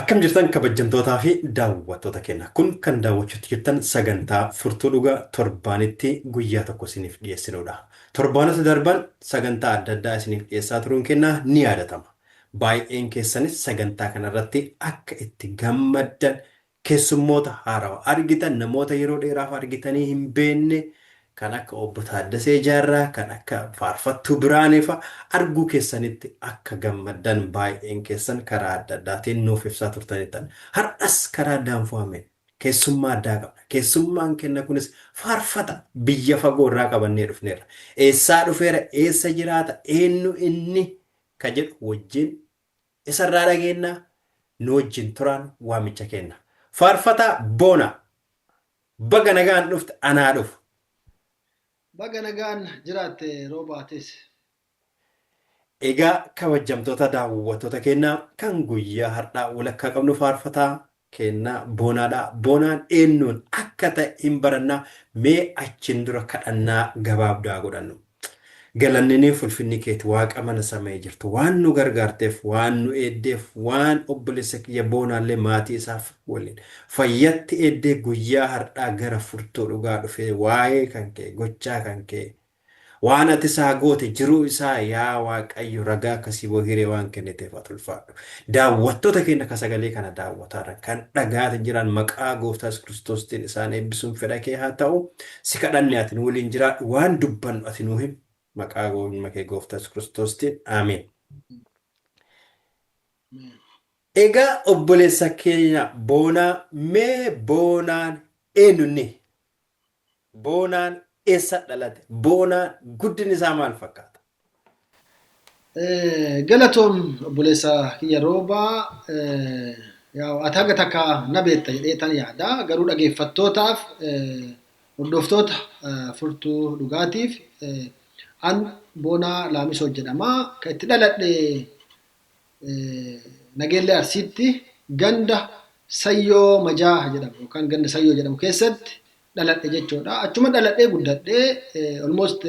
Akkam jirtan kabajjamtootaa fi daawwattoota keenya. Kun kan daawwachuutti jirtan sagantaa Furtuu Dhugaa torbaanitti guyyaa tokko isiniif dhiyeessinuudha. Torbaanota darban sagantaa adda addaa isiniif dhiyeessaa turuun keenya ni yaadatama. Baay'een keessanis sagantaa kanarratti akka itti gammaddan Keessummoota haarawa argitan, namoota yeroo dheeraaf argitanii hin beekne kan akka Obbo Taaddasee Jaarraa, kan akka Faarfattuu Biraanee fa'a arguu keessanitti akka gammaddan baay'een keessan karaa adda addaatiin nuuf ibsaa turtanittan. Har'as karaa Daanfoameen keessummaa addaa qabna. Keessummaan kenna kunis faarfata biyya fagoo irraa qabannee dhufneerra. Eessaa dhufeera, eessa jiraata, eennu inni ka jedhu wajjin Isa irraa dhageenna, nu wajjin turaan waamicha keenna. Faarfataa Boonaa, baga nagaan dhufte anaa dhufu. Baga nagaan jiraatte Roobaa atis. Egaa kabajjamtoota daawwattoota keennaa kan guyyaa hardhaa walakkaa qabnu faarfataa keennaa Boonaa dha. Boonaan eennuun akka ta'e hin barannaa. Mee achiin dura kadhannaa gabaabdu haa godhannu. Galanninii fi ulfinni keeti Waaqa mana sama'ii jirtu waan nu gargaarteef, waan nu eeddeef, waan obboleessa kiyya Boonaallee maatii isaaf waliin fayyatti eeddee guyyaa hardhaa gara furtuu dhugaa dhufee waa'ee kan kee, gochaa kan kee, Waan ati isaa goote jiruu isaa yaa waaqayyo ragaa akka siboo hiree waan kenniteef ati ulfaadhu. Daawwattoota keenya ka sagalee kana daawwataaran kan dhagaati jiraan maqaa gooftaa yesus kiristoostiin isaan eebbisuun fedha kee haa ta'u. Si kadhanne ati nu waliin jiraadhu waan dubbannu ati nuu himi maqaa goofnuma kee gooftaa yesus kiristoostiin aameen. Egaa obboleessa keenya boonaa mee boonaan eenyunni? Boonaan eessa dhalate? Boonaan guddinni isaa maal fakkaata? Galatoom obboleessa kiyya rooba ati hanga takka na beekta jedhee tan yaada garuu dhageeffattootaaf hordoftoota furtuu dhugaatiif an boonaa laamisoo jedhama kan itti dhaladhe Nageellee Arsiitti ganda Sayyoo Majaaha jedhamu yookaan ganda Sayyoo jedhamu keessatti dhaladhe jechuudha. Achuma dhaladhee guddadhee almost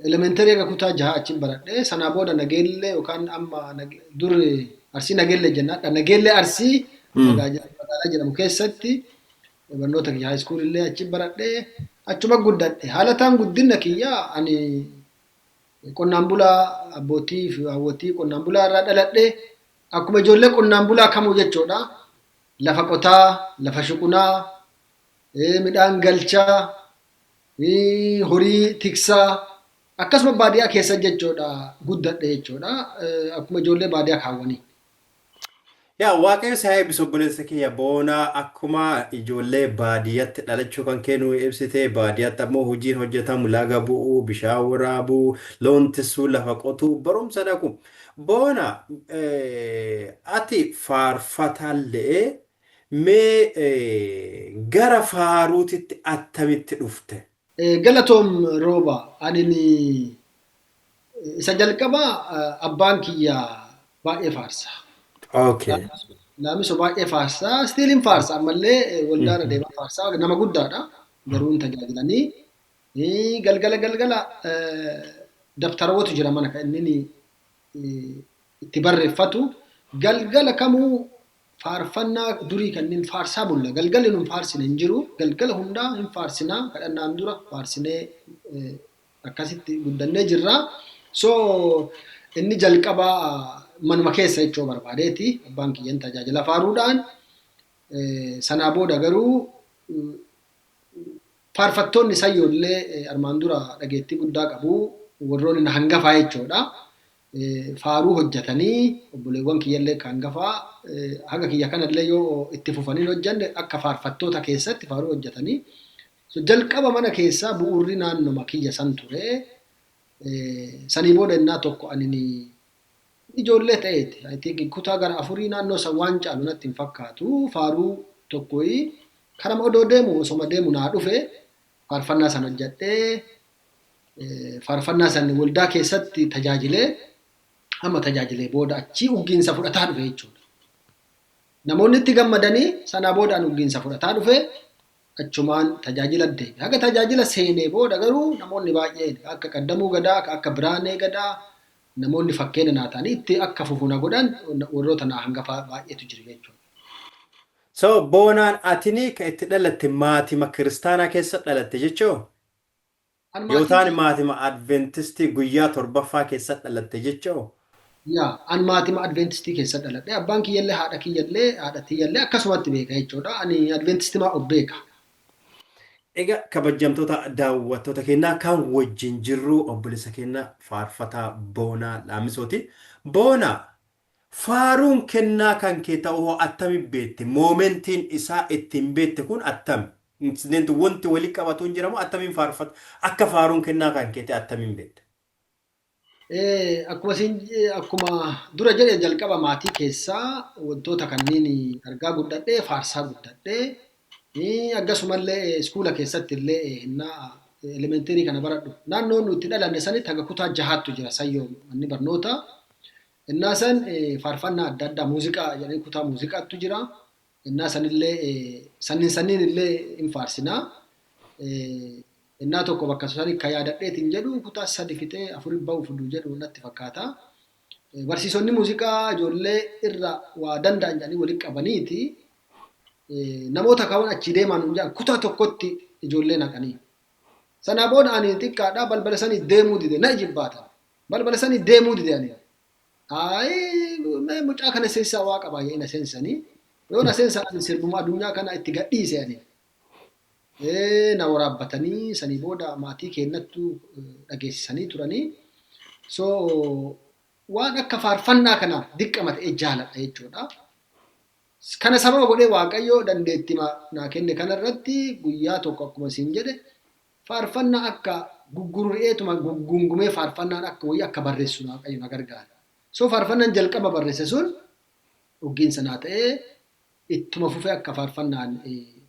elementarii akka kutaa jahaa achiin baradhee sanaa booda Nageellee yookaan amma dur Arsii Nageellee jennaadha. Nageellee Arsii magaalaa jedhamu keessatti barnoota kiyya haayiskuulillee achiin baradhee achuma guddadhe. Haalataan guddinna kiyya ani Qonnaan bulaa abbootii fi haawwotii qonnaan bulaa irraa dhaladhe akkuma ijoollee qonnaan bulaa kamuu jechuudha. Lafa qotaa, lafa shuqunaa, midhaan galchaa, horii tiksaa akkasuma baadiyaa keessa jechuudha guddadhe jechuudha. Akkuma ijoollee baadiyaa kaawwanii. Yaa waaqayyo si haa eebbisu obboleessa kiyya boona akkuma ijoollee baadiyyatti dhalachuu kan kee nuu ibsite baadiyyatti ammoo hojiin hojjetamu laga bu'uu bishaan waraabuu loon tissuu lafa qotuu barumsa dhaqu boona eh, ati faarfataallee mee eh, gara faaruutitti attamitti dhufte Galatoom Rooba anini isa jalqaba abbaan kiyya baay'ee faarsa. Okay. Laamiso baay'ee faarsa. Still hin faarsa ammallee waldaarra deemaa faarsa. Nama guddaadha. Garuu hin tajaajilanii. Eh, Galgala galgala eh, dabtarawwatu jira mana kan inni eh, itti barreeffatu. Galgala kamuu Faarfannaa durii kanneen faarsaa bulla. Galgalli nun faarsine hin jiru. Galgala hundaa hin faarsina. Kadhannaan dura faarsinee akkasitti guddannee jirra. So inni jalqaba manuma keessa jechuu barbaadeeti. Abbaan kiyyan tajaajila faaruudhaan sanaa booda garuu Faarfattoonni Sayyoo illee armaan dura dhageettii guddaa qabu. Warroonni na hangafaa jechuudha. Faaruu hojjetanii obboleewwan kiyya illee akka hangafaa haga kiyya kana illee yoo itti fufanii hin hojjenne akka faarfattoota keessatti faaruu hojjetanii. So jalqaba mana keessaa bu'uurri naannoma kiyya san ture. Sanii booda innaa tokko ani Inni ijoollee ta'eeti. I think kutaa gara afurii naannoo san waan caalu natti hin fakkaatu. Faaruu tokkoyi karama odoo deemu osoma deemu naa dhufe faarfannaa san hojjadhee faarfannaa san waldaa keessatti tajaajilee amma tajaajilee booda achii uggiinsa fudhataa dhufe jechuudha. Namoonni itti gammadanii sanaa booda an uggiinsa fudhataa dhufe achumaan tajaajila deeme. Haga tajaajila seenee booda garuu namoonni baay'een akka qaddamuu gadaa, akka biraanee gadaa, namoonni fakkeena naa ta'anii itti akka fufu na godhan warroota naa hangafaa baay'eetu jira jechuudha. So boonaan atini ka itti dhalatte maatima kiristaanaa keessa dhalatte jechoo? An maatiin Yootaan kiyya maatima adventistii guyyaa torbaffaa keessa dhalatte jechoo? yaa an maatima adventistii keessa dhaladhe abbaan kiyyallee haadha kiyyallee haadha tiyyallee akkasumatti beeka jechuudha ani adventistimaa of beeka. Ega kabajjamtoota daawwattoota keenyaa kan wajjin jirru obboleessa keenya faarfataa Boonaa Laamisooti. Boonaa, faaruun kennaa kan kee ta'uu hoo attami beekte? Moomentiin isaa ittiin beekte kun attami? Incident wanti wali qabatu hin jira moo attamiin faarfata? Akka faaruun kennaa kan kee ta'e attamiin beekte? Akkuma siin akkuma dura jedhe jalqaba maatii keessaa wantoota kanneen argaa guddadhee faarsaa guddadhee akkasumallee iskuula keessatti illee hennaa elementeerii kana baradhu naannoo nuti dhalanne sanitti haga kutaa jahaattu jira sayyoo manni barnoota hennaa san faarfannaa adda addaa muuziqaa jedhanii kutaa muuziqaattu jira Ennaa sanillee sannin sanniin illee hin faarsinaa. Ennaa tokko bakka sani ka yaadadheetiin jedhu kutaa sadi fixee afuri ba'uuf du jedhu natti fakkaata. Barsiisonni muuziqaa ijoollee irra waa danda'an jedhanii walitti qabaniiti namoota kaawwan achii deemaa nuun jedhan kutaa tokkotti ijoollee naqanii. Sanaa booda ani xiqqaadhaa balbala sanii deemuu dide na ijibbaatan. Balbala sanii deemuu dide ani. Ayii mee mucaa kana sensaa waa qabaa jedhee na sensanii yoo na sensaa ani sirbuma adunyaa kana itti gadhiise ani ee na waraabbatanii sanii booda maatii keennattu dhageessisanii turanii so waan akka faarfannaa kanaaf dirqama ta'ee jaaladha jechuudha. Kana sababa godhee waaqayyoo dandeettima naa kenne kanarratti guyyaa tokko akkuma siin jedhe Faarfannaa akka guggururi'eetuma guggungumee faarfannaan akka wayii akka barreessu Waaqayyo na gargaare. So faarfannaan jalqaba barreesse sun oggiinsa naa ta'ee ittuma fufee akka faarfannaan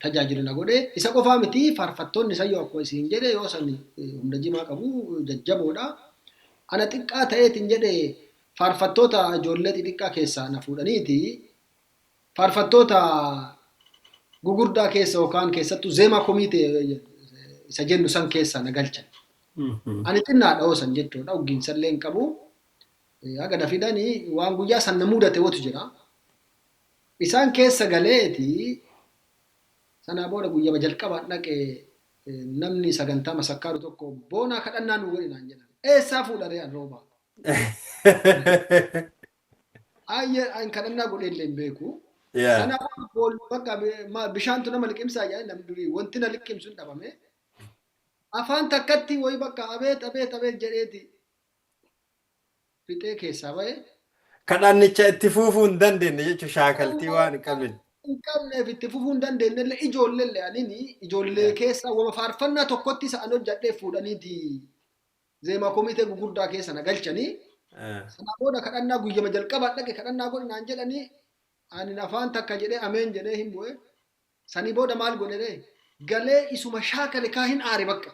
tajaajilu na godhe. Isa qofaa miti faarfattoonni sayyoo akkuma isin jedhe yoo san humna jimaa qabu jajjaboodha. Ana xiqqaa ta'eetiin jedhe faarfattoota ijoollee xixiqqaa keessaa na fuudhaniiti faarfattoota gugurdaa keessa yookaan keessattuu zeemaa komiitee isa jennu san keessa na galchan. Ani xinnaadha hoo san jechuudha oggiinsa illee hin qabu. Haga na fidanii waan guyyaa san na mudate wotu jira. Isaan keessa galeeti sanaa booda guyyama jalqabaan dhaqe namni sagantaa masakkaaru tokko boonaa kadhannaa nu godhinaan jedhan. Eessaa fuudharee an roobaa? Ayyee an kadhannaa godhee illee hin beeku. Yeah. Kanaafuu bool bakka bi- ma- bishaantu nama liqimsaa jedhanii namni durii wanti na liqimsu hin dhabame. Afaan takkatti wayi bakka abeet abeet abeet jedheeti fixee keessaa ba'e. Kadhannicha itti fuufuu hin dandeenye jechuun shaakaltii waan hin qabne. hin qabneef itti fufuu hin dandeenye illee ijoollee illee anini ijoollee keessaa wama faarfannaa tokkotti isa an hojjadhee fuudhaniiti zeemaa komitee gugurdaa keessa na galchanii sana booda kadhannaa guyyama jalqabaa dhaqe kadhannaa godhi naan jedhanii ani afaan takka jedhee ameen jedhee hin bu'e sanii booda maal godhe ree galee isuma shaakale kaa hin aare bakka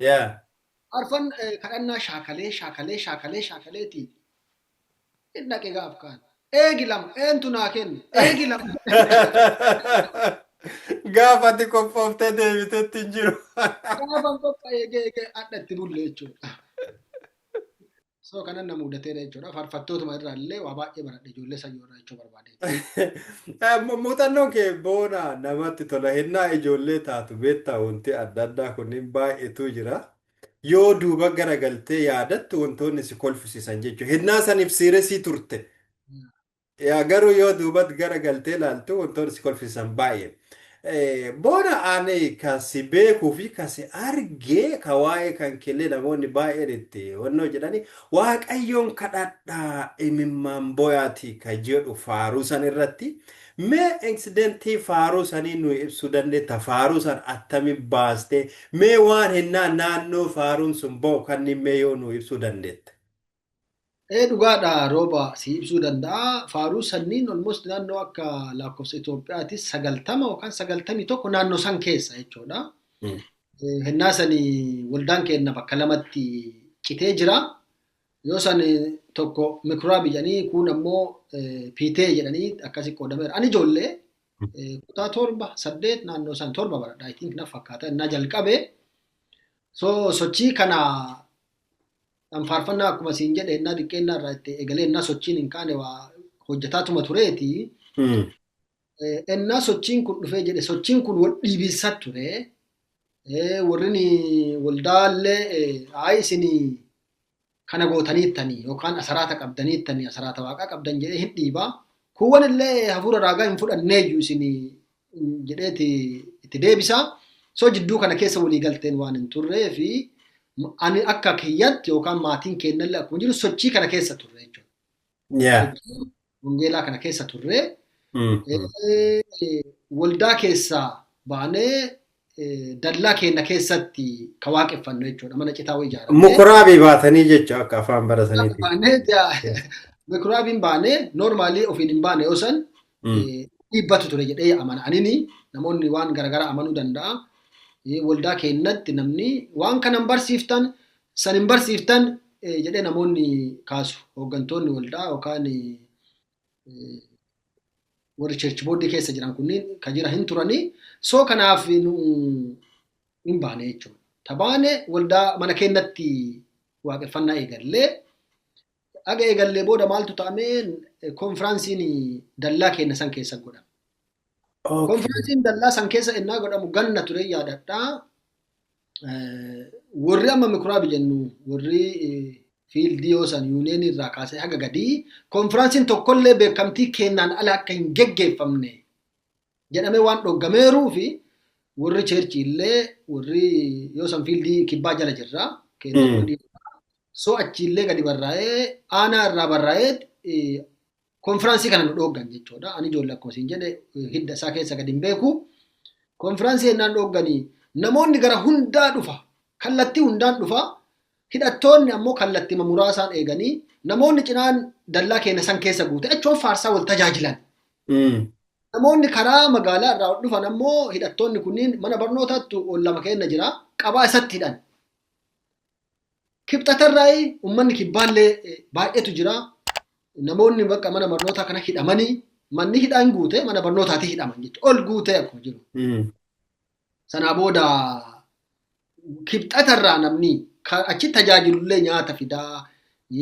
yaa arfan eh, kadhannaa shaakalee shaakalee shaakalee shaakaleeti Hin dhaqe gaaf kaan. Eegi lama. Eentu naa kenne. Eegi lama. Gaafa ati qophooftee deebitetti hin jiru. Gaafan qopha eegee eegee adha itti bulle jechuudha. So kanan na mudateera jechuudha. Farfattootuma irraa illee waa baay'ee baradhe ijoollee sayyoo irraa jechuu barbaade. Eh, mu- Muuxannoon kee boona namatti tola. Hennaa ijoollee taatu beektaa wanti adda addaa kunniin baay'eetu jira. Yoo duuba garagaltee yaadattu wantoonni si kolfisiisan jechuudha. Hennaa saniif siiresii turte. Yaa garuu yoo duubat garagaltee ilaaltu wantoonni si kolfisiisan baay'ee. Eh, Boona ani ka si beekuu fi ka si argee ka waa'ee kan keellee namoonni baay'een itti wannoo jedhani waaqayyoon kadhadhaa imimmaan boyaatii ka jedhu faaruu san irratti Mee incidenti faaruu sanii nuu ibsuu dandetta faaruu san attami baaste mee waan hennaa naannoo faaruun sun ba'u kanniin mee yoo nuu ibsuu dandetta. Ee dhugaadha Rooba sii ibsuu danda'a faaruu sanniin almost naannoo akka laakkofsa Itoophiyaati 90 yookaan 91 naannoo san keessa jechuudha. Hennaa sani waldaan keenna bakka lamatti citee jira. Yoo san tokko mikuraabi jedhanii kuun ammoo piitee jedhanii akkasi qoodameera. Ani ijoollee kutaa torba saddeet naannoo san torba baradha. I think na fakkaata innaa jalqabe. So sochii kana kan faarfannaa akkuma siin jedhe innaa xiqqeennaa irraa itti egalee innaa sochiin hin kaane waa hojjetaatuma tureeti. Ennaa sochiin kun dhufee jedhe sochiin kun wal dhiibinsa ture. Warrin waldaallee ayi isin kana gootaniittanii yookaan asaraata qabdaniittanii asaraata waaqaa qabdan jedhee hin dhiiba. Kuuwwan illee hafuura raagaa hin fudhanneeyyu isin jedheeti itti deebisa. So jidduu kana keessa walii galteen waan hin turree fi ani akka kiyyatti yookaan maatiin keennallee akkuma jiru sochii kana keessa turre jechuudha. wangeelaa kana keessa turree waldaa keessaa baanee dallaa keenya keessatti ka waaqeffannu jechuudha mana citaa wayii ijaarame. Mukuraabii baatanii jechuudha akka afaan barataniiti. Baanee mukuraabiin baanee noormaalii ofiin hin baane yoo san dhiibbatu ture jedhee amana. Anini namoonni waan garaagaraa amanuu danda'a. Waldaa keenyatti namni waan kanan barsiiftan San hin barsiiftan jedhee namoonni kaasu hooggantoonni waldaa yookaan warri church booddee keessa jiran kunniin ka jira hin turanii soo kanaaf nu hin baane jechuudha. Tabaane waldaa mana keenyatti waaqeffannaa eegallee Aga eegallee booda maaltu ta'ameen konfiraansiin dallaa keenya san keessa godhame. Okay. Konfiraansiin dallaa san keessa ennaa godhamu ganna ture yaadadha. Eh, Warri amma mikuraabi jennu warri eh, fiildii yoo san yuuniyeenii irraa kaasee haga gadii konfiraansiin tokkollee beekamtii kennaan ala akka hin geggeeffamne jedhamee waan dhoggameeruu fi warri cheerchii illee warri yoo san fiildii kibbaa jala jirra. So achi illee gadi barraa'ee aanaa irraa barraa'ee konfiraansii kana nu dhooggan jechuudha. Ani ijoollee akkuma siin jedhe hidda isaa keessa gadi hin beeku. Konfiraansii ennaan dhoogganii namoonni gara hundaa dhufa. Kallattii hundaan dhufa. Hidhattoonni ammoo kallattii muraasaan eeganii namoonni cinaan dallaa keenya san keessa guute achuun faarsaa wal tajaajilan. Namoonni karaa magaalaa irraa ol dhufan ammoo hidhattoonni kunniin mana barnootaatti ol lama kenna jira. Qabaa isatti hidhan. Kibxatarraa uummanni kibbaallee baay'eetu jira. Namoonni bakka mana barnootaa kana hidhamanii manni hidhaan guute mana barnootaatii hidhaman jechuudha. Ol guutee akkuma jiru. Sanaa booda kibxatarraa namni ka achi tajaajilullee nyaata fidaa,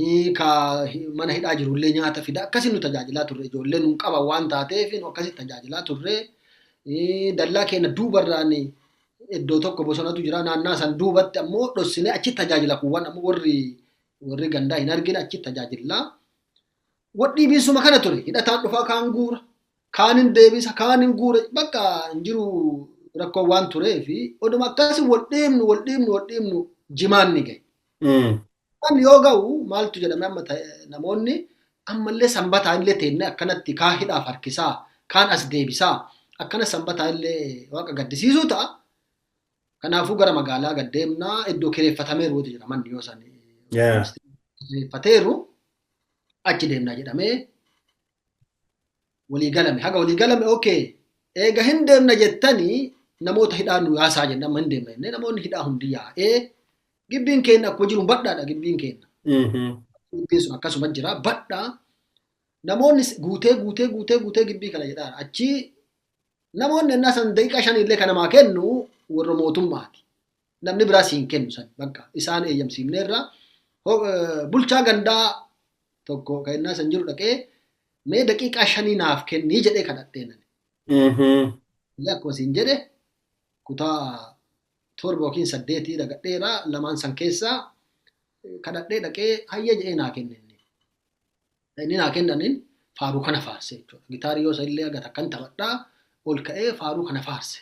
ii, ka hi- mana hidhaa jirullee nyaata fidaa akkasii nu tajaajilaa turre ijoollee nun qaban waan taateef nu akkasii tajaajilaa turre. Ii, Dallaa keenya duubarraan iddoo tokko bosonatu jira naannaa san duubatti ammoo dhossinee achi tajaajila kuuwwan ammoo warri warri gandaa hin argine achi tajaajillaa. Wadhiibiinsuma kana ture. Hidhataan dhufaa kaan guura, kaan hin deebisa, kaan hin guura. Bakka hin jiru rakkoo waan turee fi oduma akkasi wal dhiibnu, wal dhiibnu, wal dhiibnu jimaan ni gahe. Kan yoo ga'u maaltu jedhame amma namoonni ammallee sanbataa illee teennee akkanatti kaa hidhaaf harkisaa, kaan as deebisaa, akkana sanbataa illee waaqa gaddisiisuu ta'a. Kanaafuu gara magaalaa gad deemnaa iddoo kireeffatameeru wati jira manni yoo san kireeffateeru. achi deemnaa jedhamee walii galame haga walii galame okay eega hin deemna jettanii namoota hidhaa nu yaasaa jennee amma hin deemna jennee namoonni hidhaa hundi yaa'ee gibbiin keenya akkuma jiru badhaadha gibbiin keenya gibbiin sun akkasuma jira badhaa namoonni guutee guutee guutee guutee gibbii kana jedhaa achii Namoonni ennaa san daqiiqaa shaniillee ka namaa kennu warra mootummaati. Namni biraa siin kennu san bakka isaan eeyyamsiifneerra bulchaa gandaa tokko ka ennaa san jiru dhaqee mee daqiiqaa shanii naaf kennii jedhee kadhadhee nani. Akkuma siin jedhe kutaa torba yookiin saddeetii dhagadheera lamaan san keessaa kadhadhee dhaqee hayyee jedhee naa kenne. Inni naa kennaniin faaruu kana faarse jechuudha. Gitaarii yoo illee aga takkan taphadhaa ol ka'ee faaruu kana faarse.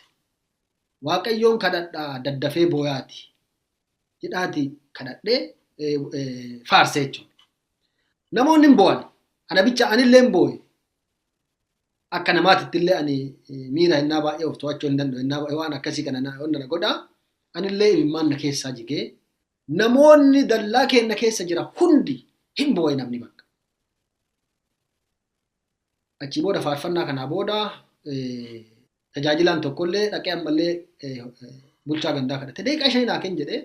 Waaqayyoon kadhadhaa daddafee booyaati jedhaati kadhadhee faarse jechuudha. Namoonni hin boo'an. Ana bicha anillee hin boo'e. Akka namaatitti illee ani miira hennaa baay'ee of to'achuu hin danda'u. Hennaa baay'ee waan akkasii kana na godha. Anillee imimmaan na keessaa jigee Namoonni dallaa keenna keessa jira hundi hin booye namni bakka. Achii booda faarfannaa kanaa booda tajaajilaan tokkollee dhaqee ammallee bulchaa gandaa kadhate. Deeqaa shanii naa kenni jedhee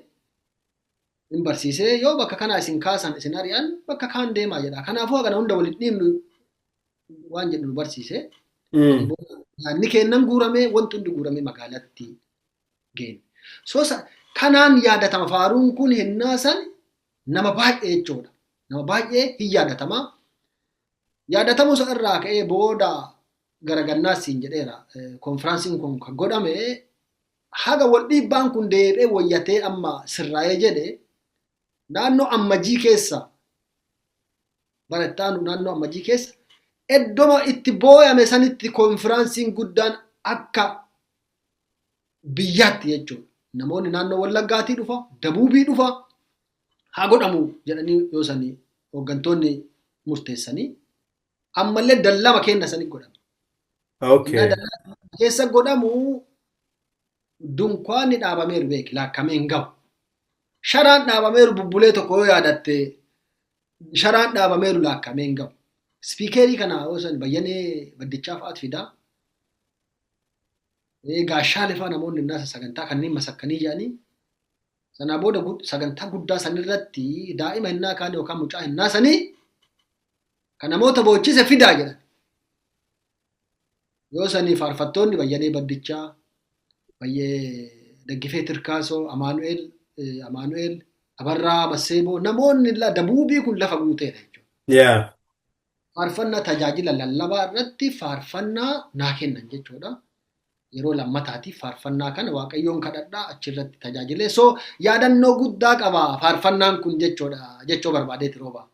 hin barsiisee yoo bakka kanaa isin kaasan isin ari'an bakka kaan deemaa jedha. Kanaafuu hagana hunda waliin dhiibnu waan jedhu nu barsiise. Yaadni keennan guuramee wanti hundi guuramee magaalatti geenne. So kanaan yaadatama faaruun kun hennaa san nama baay'ee jechuudha. Nama baay'ee hin yaadatama. Yaadatamuu isa irraa ka'ee booda garagannaas siin jedheera. Konfiraansiin kun kan godhame haga wal dhiibbaan kun deebi'ee wayyatee amma sirraa'ee jedhe naannoo ammajii keessa bara itti aanu naannoo ammajii keessa iddoma itti booyame sanitti konfiraansiin guddaan akka biyyaatti jechuudha. Namoonni naannoo Wallaggaatii dhufa, Dabuubii dhufa, haa godhamu jedhanii yoo sanii hooggantoonni murteessanii ammallee dallama kenna sanii godhama. Okay. Innaa dallama keessa godhamu dunkaanni dhaabameeru beeki laakkamee hin gahu. Sharaan dhaabameeru bubbulee tokko yoo yaadatte sharaan dhaabameeru laakkamee hin gahu. Spiikeerii kana yoo san bayyanee baddichaa fa'aat fidaa. gaashaa lifaa namoonni innaasa sagantaa kanneen masakkanii jedhanii sanaa booda sagantaa guddaa sanirratti daa'ima hinnaa kaanii yookaan mucaa hinnaa sanii kan namoota boochise fidaa jedhan. Yoo sanii faarfattoonni Bayyanee Baddichaa, Bayyee Daggifee Tirkaasoo, Amaanu'eel, Amaanu'eel, Abarraa Masseeboo namoonni dabuubii kun lafa guuteedha jechuudha. Faarfannaa tajaajila lallabaa irratti faarfannaa naa kennan jechuudha. Yeroo lammataatiif faarfannaa kana Waaqayyoon kadhadhaa achirratti tajaajilee so yaadannoo guddaa qaba faarfannaan kun jechuudha jechoo barbaadeeti rooba.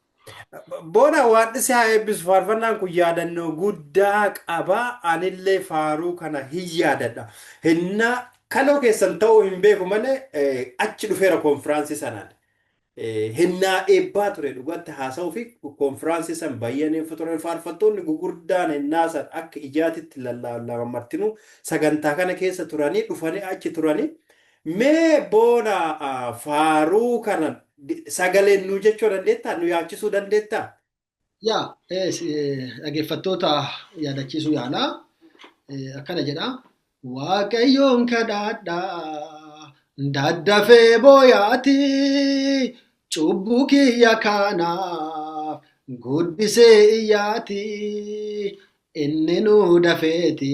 Booda waadhisi haa eebbisu faarfannaan kun yaadannoo guddaa qaba anillee faaruu kana hin yaadadha. Hinnaa kaloo keessan ta'uu hin beeku malee achi dhufeera konfiraansii sanaan. Hennaa eebbaa ture dhugatti haasawuu fi konfiraansii san bayyaneen futuran faarfattoonni gugurdaan hennaa san akka ijaatitti lallaallaman martinuu sagantaa kana keessa turanii dhufanii achi turanii mee boona faaruu kana sagaleen nuu jechoo dandeettaa nu yaachisuu dandeettaa Yaa dhaggeeffattoota yaadachiisuu yaalaa akkana jedha. Waaqayyoon kadhaadhaa daddafee booyaati cubbuu kiyya kaanaaf guddisee iyyaati inni nu dafeeti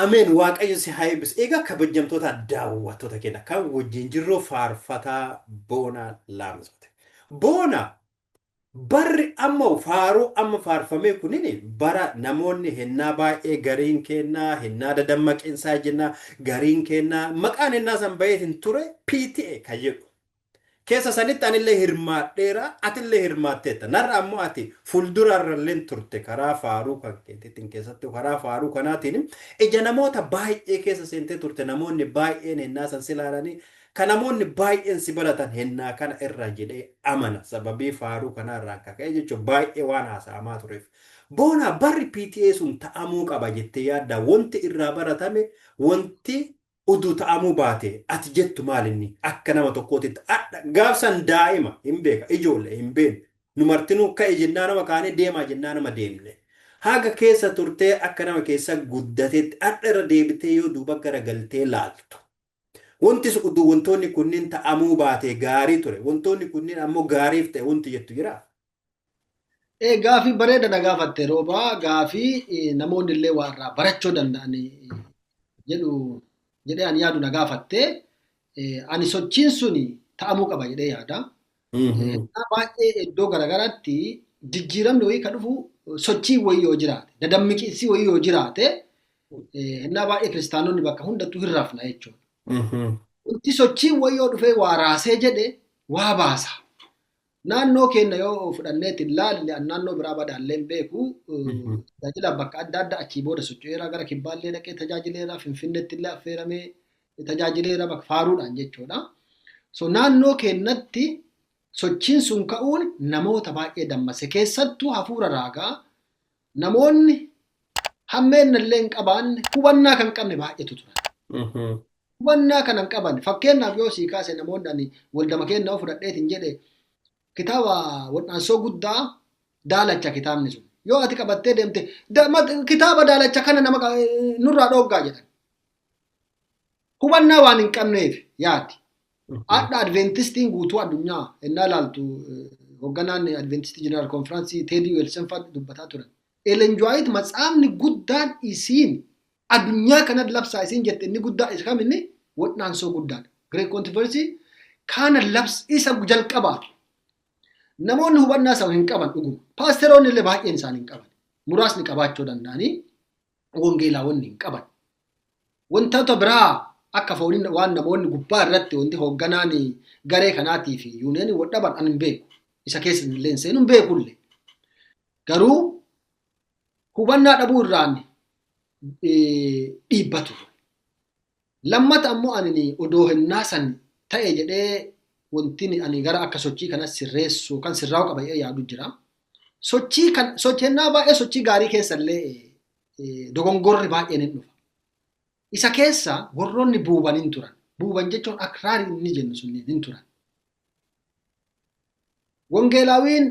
Ameen waaqayyo si haa eebbisu. Egaa kabajamtoota daawwattoota keenya kan wajjin jirru faarfataa Boonaa Laamzooti. Boona barri amma faaruu amma faarfamee kunin bara namoonni hennaa baay'ee gariin kennaa hennaa dadammaqinsaa jennaa gariin kennaa maqaan hennaa san baheetiin ture PTA kan jedhu Keessa sanitti anillee hirmaadheera, atillee hirmaatteetta. Narra ammoo ati fuulduraarralleen turte karaa faaruu kan keetiitiin keessattuu karaa faaruu kanaatiin ija namoota baay'ee keessa seentee turte namoonni baay'een hennaa san si laalanii ka namoonni baay'een si baratan hennaa kana irraa jedhee amana sababii faaruu kanaa irraan ka ka'e jechuun baay'ee waan haasa'amaa tureef. Boonaa barri PTA sun ta'amuu qaba jettee yaaddaa wanti irraa baratame wanti Uduu ta'amuu baatee ati jettu maal inni? Akka nama tokkootitti adha. Gaaf san daa'ima, hin beeka, ijoolle, hin beenne. Nu martinuu ka'i jennaa nama kaanee deemaa jennaa nama deemne. Haga keessa turtee akka nama keessa guddatetti adha irra deebitee yoo duuba gara galtee laaltu. Wontis uduu wontoonni kunniin ta'amuu baatee gaarii ture, wontoonni kunniin ammoo gaariif ta'e wonti jettu jiraa? Ee gaafii bareeda na gaafatte roobaa gaafii eh, namoonni illee waa irraa barachuu danda'an eh, jedhu jedhee ani yaadu na gaafatte Eh, ani sochiin suni ta'amuu qaba jedhee yaada. Hennaa baay'ee iddoo garaagaraatti jijjiiramni wayii kan dhufu sochii wayii yoo jiraate dadammiqiinsi wayii yoo jiraate eh, hennaa baay'ee kiristaanonni bakka hundattuu hin rafna jechuudha. Wanti sochii wayii yoo dhufee waa raasee jedhe waa baasa. Naannoo keenya yoo fudhanneetti laalle an naannoo biraa badaallee hin beeku. Tajaajilaan bakka adda addaa achii booda socho'eera gara kibbaallee dhaqee tajaajileera finfinneetti illee affeeramee tajaajileera bakka faaruudhaan jechuudha. So naannoo keenyatti sochiin sun ka'uun namoota baay'ee dammase keessattuu hafuura raagaa namoonni hammeenna illee hin qabaanne hubannaa kan qabne baay'eetu turan. Mhm. hubannaa kana hin qaban fakkeenyaaf yoo sii kaase namoonni ani waldama keenya yoo fudhadheetiin jedhe kitaaba wal'aansoo guddaa daalacha kitaabni sun yoo ati qabattee deemte da- mat- kitaaba daalacha kana nama qa- eh, nurraa dhooggaa jedhan hubannaa waan hin qabneef yaadi Adha Adventistiin guutuu addunyaa ennaa ilaaltu hogganaan Adventistii Jeneraal Konfiraansii Teedii Weelsen fa'a dubbataa turan. Elen Juwaayit matsaafni guddaan isiin addunyaa kanan labsaa isiin jette inni guddaa isa kam inni wodhaansoo guddaadha. Great Controversy kaana labs isa jalqabaati. Namoonni hubannaa sana hin qaban dhuguma. Paasteroonni illee baay'een isaanii hin qaban. Muraasni qabaachuu danda'anii Wangeelaa wanni hin qaban. Wantoota biraa akka fooniin waan namoonni gubbaa irratti wanti hoogganaan garee kanaatii fi yuuniyanii wal dhaban an hin beeku. Isa keessa illee hin seenu hin beeku illee. Garuu hubannaa dhabuu irraan dhiibbatu. Lammata ammoo anini odoo hennaa san ta'e jedhee wontiin ani gara akka sochii kana sirreessuu kan sirraa'u qaba jedhee yaadu jira. Sochii kan soch hennaa baay'ee sochii gaarii keessallee eh, dogongorri baay'een hin dhufa. Isa keessa warroonni buuban hin turan. Buuban jechuun akraarii inni jennu sunniin hin turan. Wangeelaawiin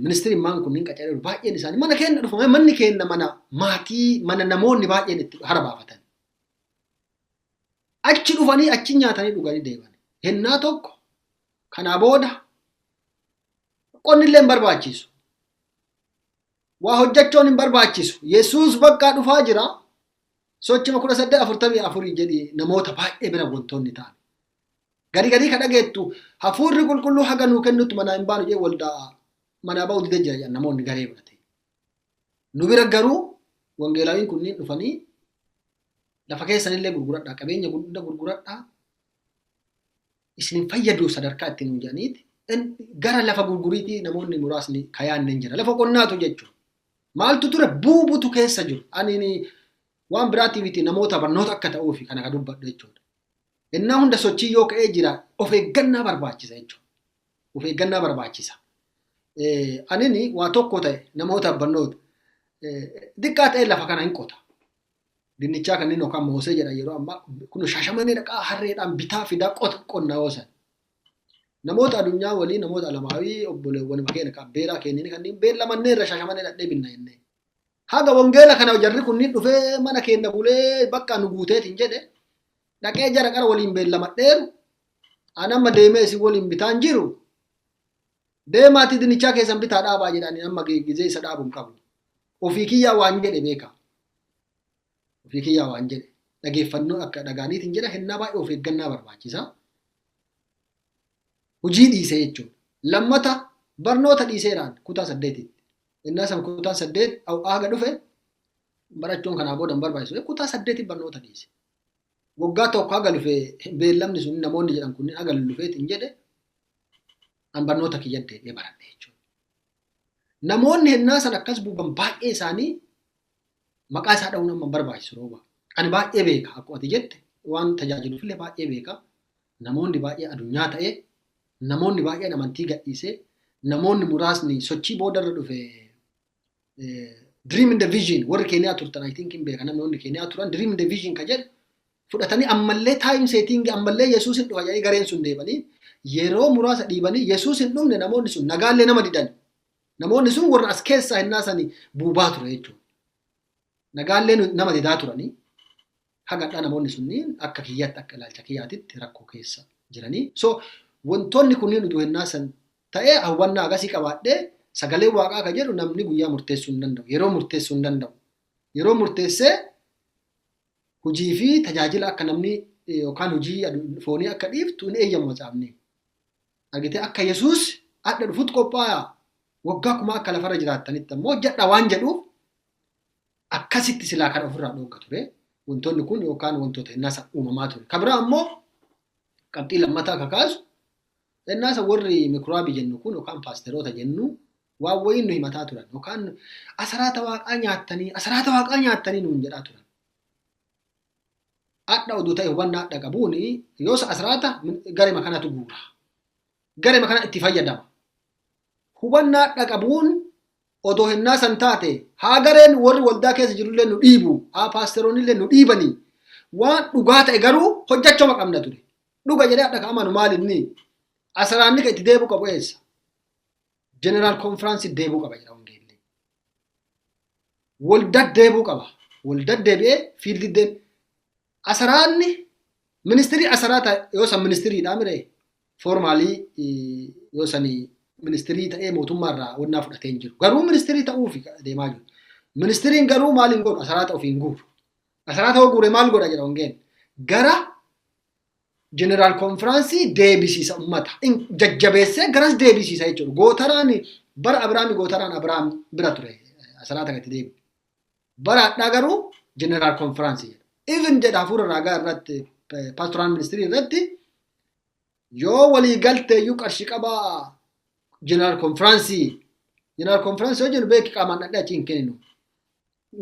ministirimmaan kunniin qacaree baay'een isaanii mana keenya dhufa manni keenya mana maatii mana namoonni baay'een itti harabaafatan. Achi dhufanii achi nyaatanii dhuganii deeman. Hennaa tokko kanaa booda qonni illee hin barbaachisu. Waa hojjechoon hin barbaachisu. Yesuus bakkaa dhufaa jira. Sochima 18:44 jedhi namoota baay'ee bira wantoonni ta'an. Gadi gadii ka dhageettu hafuurri qulqulluu haga nuu kennutti manaa hin baanu jee waldaa manaa ba'uu didee jira jedhan namoonni garee godhate. Nu bira garuu wangeelaawiin kunniin dhufanii lafa keessanillee gurguradhaa qabeenya hunda gurguradhaa isin fayyadu sadarkaa itti nuun jedhaniiti gara lafa gurguriitii namoonni muraasni kayaanne hin jira. Lafa qonnaatu jechuudha. Maaltu ture buubutu keessa jiru. Ani waan biraatiif itti namoota barnoota akka ta'uufi kana ka dubbadhu jechuudha. Innaa hunda sochii yoo ka'ee jira of eeggannaa barbaachisa jechuudha. Of eeggannaa barbaachisa. Anini waa tokko ta'e namoota barnoota xiqqaa ta'e lafa kana hin qota. dinnichaa kanneen yookaan moosee jedhan yeroo ammaa kun shaashamannee dhaqaa harreedhaan bitaa fidaa qota qonnaa oosan. Namoota adunyaa walii namoota alamaawii obboleewwan keenya kan beeraa keenyini kanneen beellamannee irra shaashamannee dhadhee binna jennee. Haga wangeela kana jarri kunniin dhufee mana keenya bulee bakka nu guuteetiin jedhe dhaqee jara qara waliin beellamadheeru an amma deemee isin waliin bitaan jiru Deemaatii dinichaa keessan bitaa dhaabaa jedhanii amma gizee isa dhaabu hin qabu. Ofii kiyyaa waan jedhe beeka. Ofii kiyyaa waan jedhe. Dhageeffannoo akka dhagaaniitiin jedha hennaa baay'ee of eeggannaa barbaachisa. Hojii dhiisee jechuudha. Lammata barnoota dhiiseeraan kutaa saddeetitti. Innaa san kutaa saddeet haga dhufe barachuun kanaa booda hin barbaachisu. Kutaa saddeetiin barnoota dhiise. Waggaa tokko haga dhufe beellamni sun namoonni jedhan kunniin haga lufeetiin jedhe an barnoota kiyyan deebi'ee baradhe jechuudha. Namoonni hennaa san akkas buuban baay'ee isaanii maqaa isaa dha'uun amma barbaachisu rooba. Ani baay'ee beeka akkuma ati jette waan tajaajiluuf illee baay'ee beeka. Namoonni baay'ee adunyaa ta'e namoonni baay'een amantii gadhiise namoonni muraasni sochii boodarra dhufe dream in the vision warri keeniyaa turtan I think hin beeka namni warri keeniyaa turan dream in the vision ka jedhu fudhatanii ammallee time setting ammallee Yesuus hin dhufa jedhanii gareen sun deebanii yeroo muraasa dhiibanii Yesuus hin dhumne namoonni sun nagaallee nama didan namoonni sun warra as keessaa hin naasanii buubaa ture jechuudha. Nagaallee nama didaa turanii Haga hadhaa namoonni sunniin akka kiyyaatti akka ilaalcha kiyyaatitti rakkoo keessa jiranii. So wantoonni kunniin utuu hennaa san ta'ee hawwannaa agasii qabaadhee sagalee waaqaa ka jedhu namni guyyaa murteessuu hin danda'u. Yeroo murteessuu hin danda'u. Yeroo murteessee hujii fi tajaajila akka namni eh, yookaan hujii adu- foonii akka dhiiftu hin eeyyamu macaafni. Argitee akka Yesuus adda dhufutti qophaa'a. Waggaa kuma akka lafarra jiraattanitti ammoo hojjedha waan jedhuuf akkasitti silaa kan ofirraa dhoogga ture. Wantoonni kun yookaan wantoota innaasa uumamaa ture. Kan biraa ammoo qabxii lammataa kakaasu innaasa warri mikuraabii jennu kun yookaan paasteroota jennu waan wayiin nu himataa turan yookaan asaraata waaqaa nyaattanii asaraata waaqaa nyaattanii nuun jedhaa turan. Adha oduu ta'e hubannaa adha qabuun yoos asaraata garema kanatu guura. Garema kana itti fayyadama. Hubannaa adha qabuun odoo hennaa san taate haa gareen warri waldaa keessa jirullee nu dhiibu haa paasteroonillee nu dhiibanii waan dhugaa ta'e garuu hojjachoma qabna ture dhuga jedhee adha ka amanu maali inni asaraanni ka itti deebu qabu eessa jeneraal konfiraansi deebuu qaba jedha wangeellee waldaa deebuu qaba waldaa deebi'ee fiildi deebi Asaraanni ministirii asaraa ta'e yoo san ministiriidhaa miree foormaalii yoo sanii ministirii ta'ee mootummaarraa wannaa fudhatee hin jiru. Garuu ministirii ta'uuf deemaa jiru. Ministiriin garuu maal hin godhu asaraata ofii hin guuru. Asaraata yoo guure maal godha jedha ongeen. Gara jeneraal konfiraansii deebisiisa ummata. Jajjabeessee garas deebisiisa jechuudha. Gootaraan bara Abiraami gootaraan Abiraam bira ture asaraata gati deebi. Bara hadhaa garuu jeneraal konfiraansii jedha. Even jedha hafuura raagaa irratti paastoraan ministirii irratti yoo walii galteeyyuu qarshii qabaa jeneraal konfiraansii jeneraal konfiraansii yoo jennu beeki qaamaan dhadhee achi hin kenninu.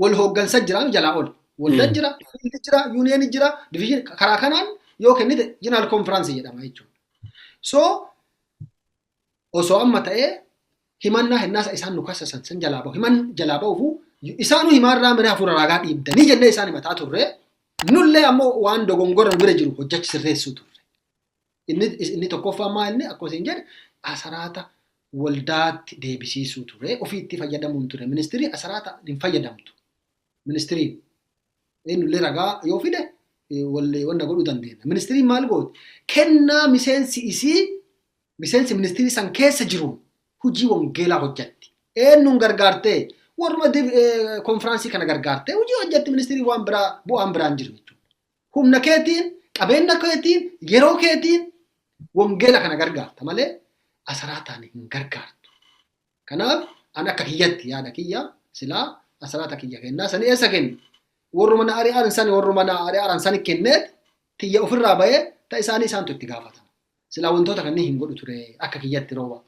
Wal hooggansa jira jalaa ol. Waldaan jira, fiildi jira, yuuniyeeni jira, diviizhin karaa kanaan yoo kennite jeneraal konfiraansii jedhama jechuudha. So osoo amma ta'ee himannaa hinnaasa isaan nu kassasan san jalaa bahu himan jalaa bahufu isaanuu himaarraa miree hafuura raagaa dhiibdanii jennee isaan himataa turre nullee ammoo waan dogongora nu bira jiru hojjechi sirreessuu turre. Inni, inni tokkoffaa maa inni akkuma isin jedhe asaraata waldaatti deebisiisuu ture ofiitti fayyadamuun ture ministirii asaraata hin fayyadamtu ministiriin eenyullee ragaa yoo fide wallee wanna godhuu dandeenya. Ministiriin maal gooti? Kennaa miseensi isii miseensi ministirii san keessa jiruun hojii wangeelaa hojjatti. Eenyuun gargaartee? Warruma konfiraansii kana gargaartee hojii hojjatti ministirii waan biraa bu'aan biraan jiru jechuudha. Humna keetiin, qabeenya keetiin, yeroo keetiin wangeela kana gargaarta malee asaraataan hin gargaartu. Kanaaf an akka kiyyatti yaada kiyya silaa asiraata kiyya kennaa sani eessa kennu? Warruma na ari'an sani warruma na ari'an sani kenneet tiyya ofirraa bahee ta isaanii isaantu itti gaafatama. Silaa wantoota kanneen hin godhu ture akka kiyyatti rooba.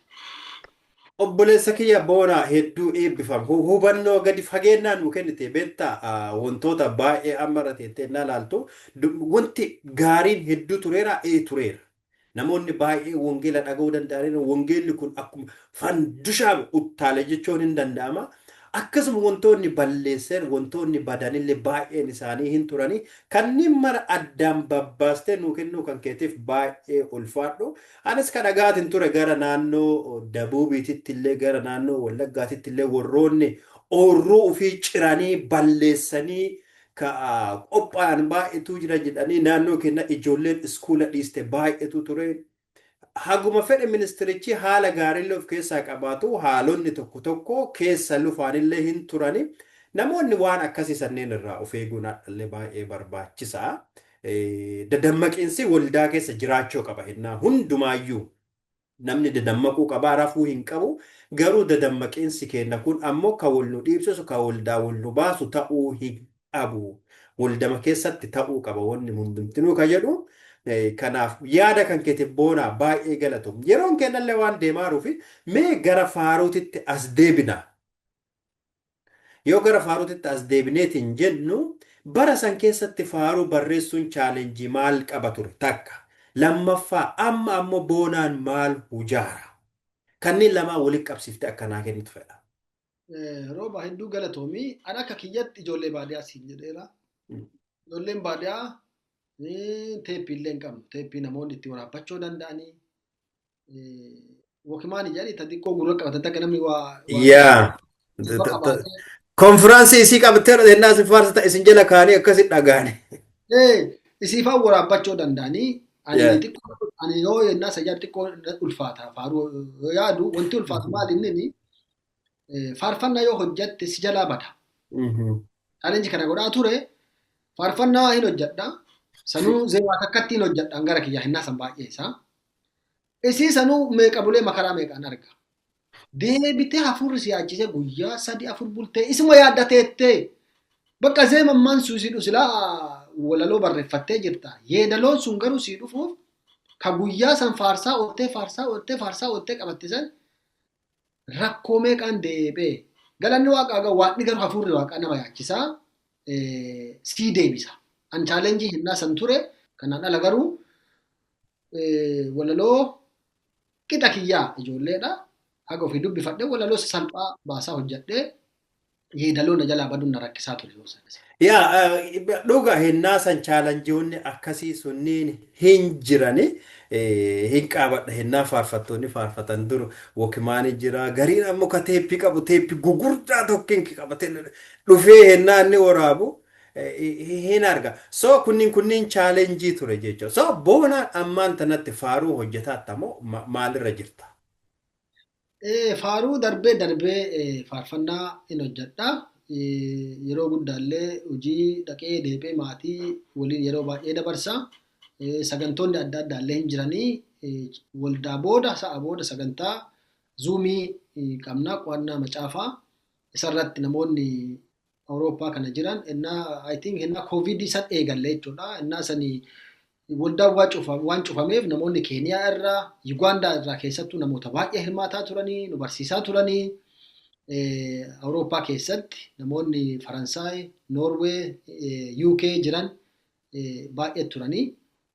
Obboleessa kiyya Boonaa hedduu eebbifam. Hu- Hubannoo gadi fageennaa nuu kennite beektaa ah, wantoota baay'ee amma irra teettee na laaltu du- wanti gaariin hedduu tureera ee tureera. Namoonni baay'een wangeela dhaga'uu danda'aniiru. Wangeelli kun akkuma fandushaan uttaale jechuun hin danda'ama. Akkasuma wantoonni balleesseen wantoonni badanillee baay'een isaanii hin turanii. Kanneen mara addaan babbaastee nuu kennuu kan keetiif baay'ee ulfaadhu. Anis ka dhaga'aatiin ture gara naannoo Dabuubiititti illee gara naannoo Wallaggaatitti illee warroonni oorruu ofii ciranii balleessanii ka qophaa'an baay'eetu jira jedhanii naannoo keenya ijoolleen iskuula dhiiste baay'eetu ture. Haguma fedhe ministirichi haala gaariillee of keessaa qabaatu haalonni tokko tokko keessa lufaanillee hin turani. Namoonni waan akkasii sanneen irraa of eeguun hadhallee baay'ee barbaachisa. Dadammaqiinsi waldaa keessa jiraachuu qaba hennaa hundumaayyuu. Namni dadammaquu qaba, rafuu hin qabu. Garuu dadammaqiinsi keenna kun ammoo ka wol nu dhiibsisu, ka woldaa wol nu baasu ta'uu hin qabu. Woldama keessatti ta'uu qaba wonni hundumtinuu ka jedhu. Kanaaf yaada kan keetiif boonaa baay'ee galatoom. Yeroon keennallee waan deemaaruufi mee gara faaruutitti as deebina. Yoo gara faaruutitti as deebineetiin jennu, bara san keessatti faaruu barreessuun challenge maal qaba ture? Takka. Lammaffaa amma ammoo boonaan maal hujaara? Kanneen lamaan walitti qabsiiftee akka naa kennitu fedha. Eh, Rooba hedduu galatoomii. Ani akka kiyyatti ijoollee baadiyaa siin jedheera. Mm. Ijoolleen baadiyaa eh, teeppii illee hin qabnu. Teeppii namoonni itti waraabbachuu danda'anii Wakimaani jedhani ta xiqqoo gurra qabatan takka namni waa waa yaa gurra qabaatee konfiraansii isii qabtee dhadhennaa isin faarsita isin jala kaanii akkasi dhagaane ee isiifaan waraabbachuu danda'anii ani Yeah. xiqqoo ani yoo yennaa sajaa xiqqoo na ulfaata faaruu yoo yaadu wanti ulfaatu maal inni eh, faarfannaa yoo hojjatte si jalaa bada. Mhm. Challenge kana godhaa ture faarfannaa hin hojjadha. Sanuu zeewaa takkatti hin hojjadhaan gara kiyyaa hinnaa san baay'ee isaa. Isii sanuu meeqa bulee makaraa meeqaan arga. Deebitee hafuurri si yaachisee guyyaa sadi afur bultee isuma yaadda teettee. Bakka zeemammaan sun si dhusilaa walaloo barreeffattee jirta. Yeedaloon sun garuu si dhufuuf ka guyyaa san faarsaa ooltee faarsaa ooltee faarsaa ooltee qabatte san rakkoo meeqaan deebee galanni waaqaa gaa waaqni garuu hafuurri waaqaa nama yaachisaa sii deebisa. An chaalenjii hennaa san ture kanaan ala garuu walaloo qixa kiyyaa ijoolleedha. Haga ofii dubbifadhe walaloo salphaa baasaa hojjadhee yeedaloo na jalaa baduun na rakkisaa ture yeroo sana. Yaa dhuga hennaa san chaalanjiyoonni akkasii sunniin hin jirani hin qaabadha hennaa faarfattoonni faarfatan dur wokimaanii jira gariin ammoo ka teeppii qabu teeppii gugurdaa tokkiin qabate dhufee hennaa inni waraabu hin arga so kunniin kunniin chaalenjii ture jechuudha so boonaan ammaan tanatti faaruu hojjetaa tamoo maalirra jirta. Eh, Faaruu darbee darbee eh, faarfannaa in hojjedha. Eh, Yeroo guddaallee hojii dhaqee deebi'ee maatii waliin yeroo baay'ee dabarsa. Eh, Sagantoonni adda addaallee hin jiranii eh, waldaa booda sa'a booda sagantaa zuumii eh, qabna qo'annaa macaafaa isarratti namoonni Awurooppaa kana jiran innaa I think innaa koovidii san eegalle jechuudha. Innaa sanii Waldaan waan cufameef namoonni Keeniyaa irraa, Yugaandaa irraa keessattuu namoota baay'ee hirmaataa turanii, nu barsiisaa turanii. Awurooppaa keessatti namoonni Faransaay, Noorwee, UK jiran baay'ee turanii.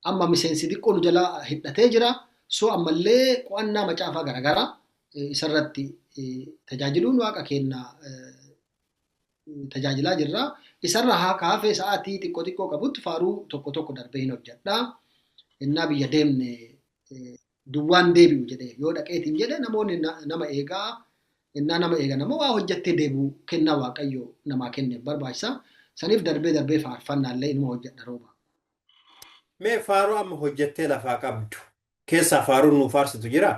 Amma miseensi xiqqoo nu jalaa hidhatee jira. So ammallee qo'annaa macaafaa garaagaraa isarratti tajaajiluun waaqa keenya tajaajilaa jirra. Isarra haa kaafee sa'aatii xiqqoo xiqqoo qabutti faaruu tokko tokko darbee hin hojjedha. Innaa biyya deemne duwwaan deebi'u jedhe yoo dhaqeetiin jedhe namoonni nama eegaa innaa nama eegan ammoo waa hojjettee deebi'u kennaa waaqayyo namaa kenneef barbaachisa. Saniif darbee darbee faarfannaallee inuma hojjedha rooba. Mee faaruu amma hojjettee lafaa qabdu keessaa faaruun nuu faarsitu jiraa?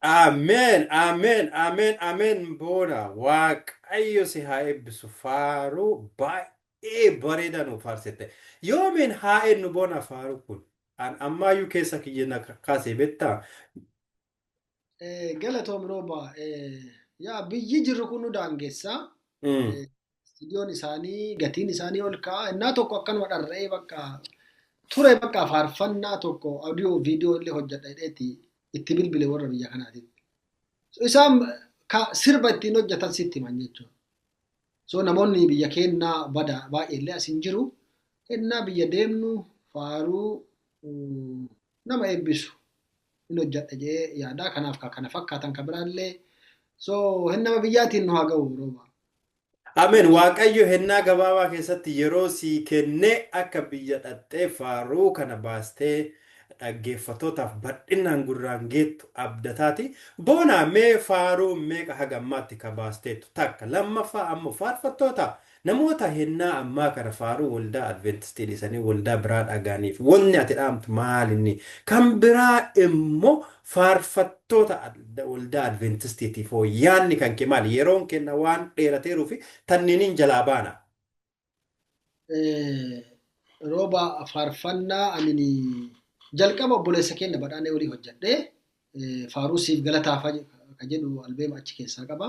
Amen Amen Amen Amen boona waaqayyo si haa eebbisu faaruu baay'ee bareedaa nu faarsite yoomiin haa ennu boona faaruu kun an ammaayyuu keessa kiyya na kaasee bettaa Eh, Galatoom rooba. Eh, Yaa biyyi jirru kun nu daangessa. Mm. Istiidiyoon isaanii gatiin isaanii ol ka'a. Innaa tokko akkanuma dharra'ee bakka ture bakka faarfannaa tokko audio video illee hojjedha jedheeti itti bilbile warra biyya kanaatiif. So, isaan ka sirba ittiin hojjetan sitti himan jechuudha. So namoonni biyya keennaa bada baay'ee illee as hin jiru. Innaa biyya deemnu faaruu mm, nama eebbisu hin hojjedha jee yaadaa kanaaf ka kana fakkaatan ka biraallee so hin nama biyyaatiin nu haa ga'u rooba. Ameen waaqayyo hennaa gabaabaa keessatti yeroo sii kennee akka biyya dhaqxee faaruu kana baastee dhaggeeffatootaaf badhinnaan gurraan geettu abdataati. Boonaa mee faaruu meeqa haga ammaatti ka baasteettu takka lammaffaa ammoo faarfattoota namoota hennaa ammaa kana faaruu waldaa adventistii dhisanii waldaa biraa dhagaaniif wanni ati dhaamtu maalinni kan biraa immoo Faarfattoota Waldaa Adveentistiitiif hoo yaanni kan kee maali? Yeroon keenna waan dheerateeruu fi tanniiniin jalaa baana. Rooba faarfannaa anin jalqaba obboleessa keenna badhaanee olii hojjedhe faaruu siif galataa ka jedhu albeema achi keessaa qaba.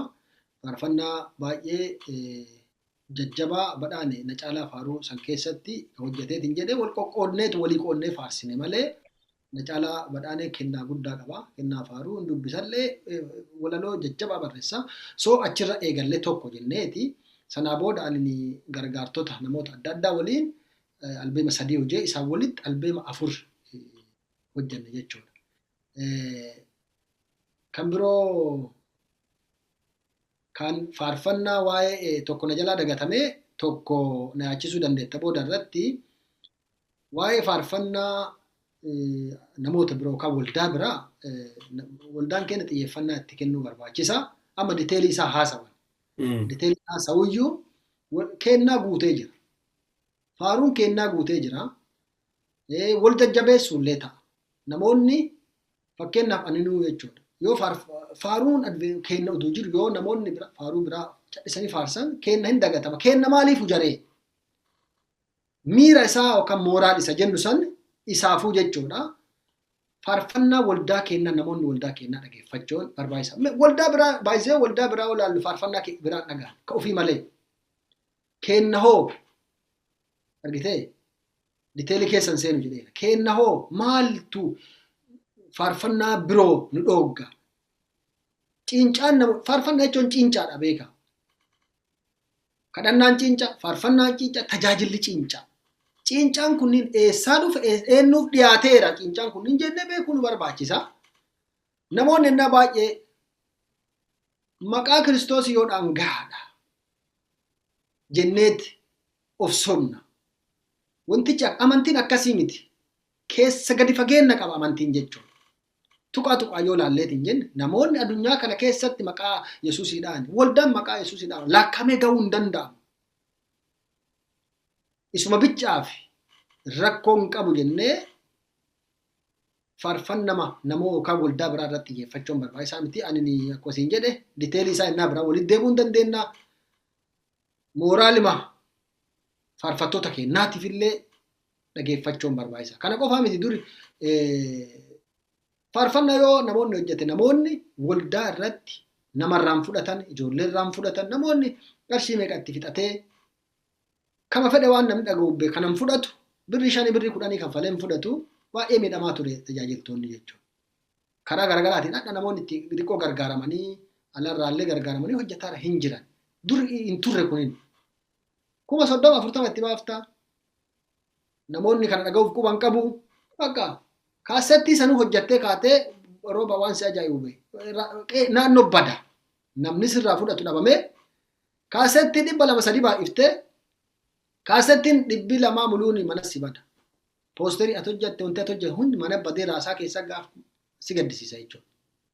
Faarfannaa baay'ee jajjabaa badhaane na caalaa faaruu san keessatti hojjeteetiin jedhee wal qoqqoodneetu walii qoodnee faarsine malee na caalaa badhaanee kennaa guddaa qaba. Kennaa faaruu hin dubbisallee walaloo jajjabaa barreessa. So achirra eegallee tokko jenneeti. Sanaa booda ani gargaartota namoota adda addaa waliin albeema sadii hojee isaan walitti albeema afur hojjenne jechuudha. Kan biroo kan faarfannaa waa'ee tokko na jalaa dagatamee tokko na yaachisuu dandeetta booda irratti Waa'ee faarfannaa namoota biroo kan waldaa biraa waldaan keenya xiyyeeffannaa itti kennuu barbaachisa. Amma diteelii isaa haasawan. Diteelii haasawuyyuu kennaa guutee jira. Faaruun kennaa guutee jira. Wal jajjabeessuu illee ta'a. Namoonni fakkeenyaaf aninuu jechuudha. Yoo faaruun kenna oduu jiru yoo namoonni faaruu biraa callisanii faarsan kenna hin dagatama. Kenna maaliif hujaree? Miira isaa yookaan mooraal isa jennu san isaafuu jechuudha. Faarfannaa waldaa keennaa namoonni waldaa keennaa dhageeffachuun barbaachisa. Me- Waldaa biraa baay'isee waldaa biraa yoo ilaallu faarfannaa ke- biraa hin dhagahan ka ofii malee. Keenna hoo argitee diteelii keessa hin seenu jedheera. Keenna hoo maaltu faarfannaa biroo nu dhoogga? Ciincaan nama faarfannaa jechuun ciincaadha beeka. Kadhannaan ciincaa, faarfannaan ciincaa, tajaajilli ciincaa. Ciincaan kunniin eessaa dhufe, ees- eenyuuf dhiyaateera ciincaan kunniin jennee beekuu nu barbaachisa. Namoonni ennaa baay'ee maqaa Kiristoos yoo dhaan gahaadha jenneeti of sobna. Wantichi ak- amantiin akkasii miti. keessa gadi fageenna qaba amantiin jechuun. Tuqaa tuqaa yoo laalleeti hin jenne namoonni adunyaa kana keessatti maqaa Yesuusiidhaan waldaan maqaa Yesuusiidhaan laakkamee ga'uu hin danda'amu. Isuma bichaaf rakkoon qabu jennee faarfannama namoo yookaan waldaa biraa irratti xiyyeeffachuun barbaachisaa miti. Ani akkuma isin jedhe diteelii isaa innaa biraa walitti deebi'uu hin dandeenya. mooraalima faarfattoota keenyaatiif illee dhageeffachuun barbaachisa. Kana qofaa miti duri faarfannaa yoo namoonni hojjete namoonni waldaa irratti namarraan fudhatan ijoollee irraan fudhatan namoonni qarshii meeqatti fixatee kama fedhe waan namni dhaga'ubbe kanan fudhatu birrii shanii birrii kudhanii kaffaleen fudhatu baay'ee miidhamaa ture tajaajiltoonni jechuudha. karaa garagaraatiin hadha namoonni itti xiqqoo gargaaramanii alarraallee gargaaramanii hojjetaara hin jiran. Dur hin turre kunin. Kuma soddoma afurtama itti baafta. Namoonni kana dhaga'uuf quban qabu. Bakka kaassettii sanuu hojjettee kaatee rooba waan si ajaa'ibu bahe. Naannoo bada. Namni sirraa fudhatu dhabamee kaassettii dhibba lama sadii baay'iftee kaassettiin dhibbi lamaa muluun mana si bada. Poosterii ati hojjatte wanti ati hojjatte hundi mana badee raasaa keessaa gaaf si gaddisiisa jechuudha.